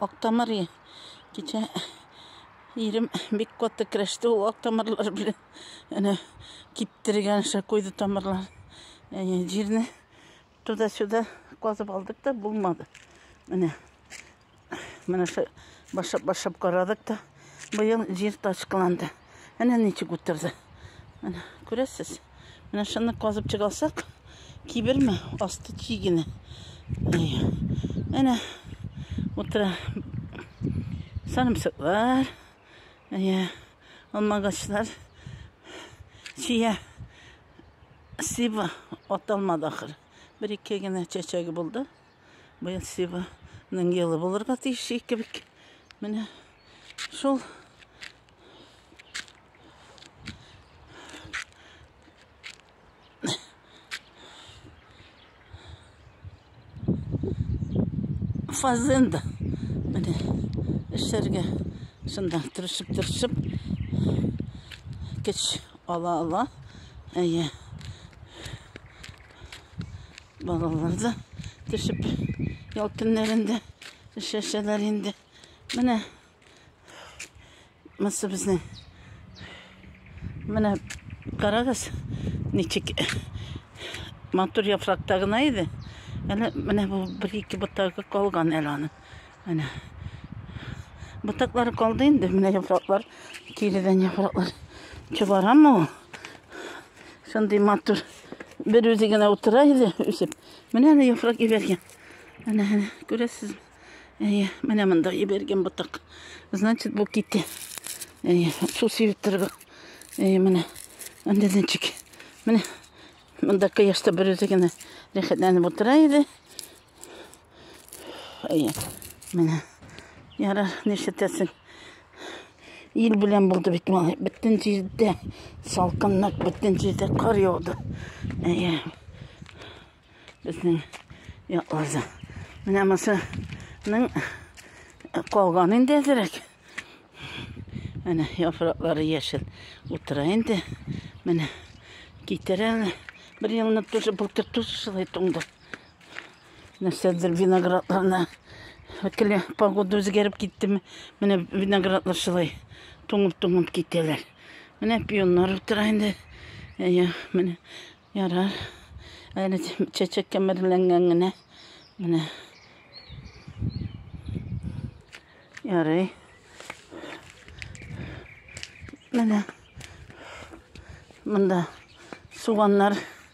Актамыр и. Кичә ирем бик каты керәште ул актамырлар белән. Әнә киптергән ша куйды тамырлар. Әйе, җирне туда-сюда казып алдык та булмады. Менә. Менә ша башап башап карадык та быел җир ташкыланды. Әнә ничек утырды. Әнә күрәсез? Менә шуны казып чыгасак, киберме асты чи генә. Әнә утыра сарымсаклар, әйе, алмагачлар. Чия сиба аталмады ахыр. Бер-ике генә чәчәге булды. Быел Сиваның елы булырга тиеш ике бик. Менә шул фазенда. Менә эшләргә шунда тырышып тырышып көч ала ала. Әйе. Балалар да төшеп ял көннәрендә эшләшәләр инде. Менә мысы безнең. Менә карагыз, ничек матур яфракта гына иде. Әле менә бу бер ике ботагы калган әле аны. Менә. Ботаклары калды инде, менә яфраклар, киридән яфраклар. Чыгарамы ул? Шундый матур. Бер үзе генә утыра иде, үсеп. Менә әле яфрак ебәргән. Әнә, әнә, күрәсез. Әйе, менә монда ебәргән ботак. Значит, бу китте. Әйе, су сибеп торды. Әйе, менә. Анда денчик. Менә. Монда кояшта бер үзе генә рәхәтләнеп утыра иде. Әйе. Менә. Яра, нишләтәсең? Ил белән булды бит малай. Бөтен җирдә салкынлык, бөтен җирдә кар яуды. Әйе. Безнең якларда. Менә масаның калган инде әзрәк. Менә яфраклары яшел. Утыра инде. Менә китерәләр. Бер елны тоже былтыр тоже шулай туңды. Нәрсәдер виноградларны Өткеле погода үзгәреп киттеме, менә виноградлар шулай туңып-туңып китәләр. Менә пионнар утыра инде. Әйе, менә ярар. Әле чәчәк кәмерләнгән генә. Менә. Ярый. Менә. Монда суганнар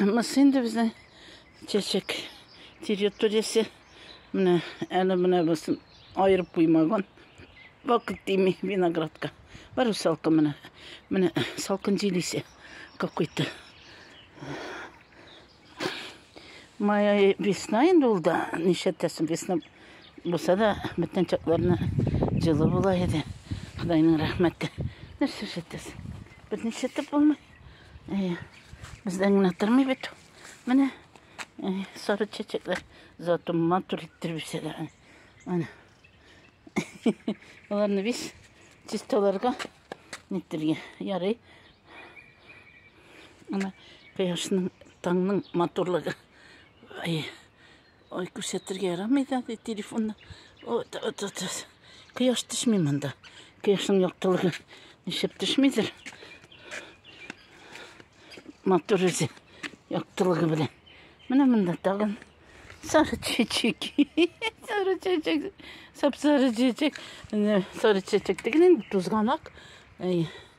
Мысы инде безнең чәчәк территориясе. Менә әле менә басын айырып куймаган. Вакыт тими виноградка. Бар салкы менә. Менә салкын җил исе какой-то. Моя весна инде ул да нишәтәсен весна булса да бөтен чакларны җылы була иде. Худайның рәхмәте. Нәрсә шәтәсен? Бер нишәтеп булмый. Әйе. Бездән генә тормый бит. Менә әйе, сары чәчәкләр зато матур иттереп үсәләр. Менә. Аларны без чисталарга ниттергә ярый. Ана кояшның таңның матурлыгы. Әйе. Ой, күрсәтергә ярамый да ди телефонны. Вот, вот, вот, вот. Кояш төшми монда. Кояшның яктылыгы нишләп төшмидер? Матур үзе яктылыгы белән. Менә монда тагын сары чәчәк. сары чәчәк. Сап сары чәчәк. Сары чәчәк дигән инде тузганак.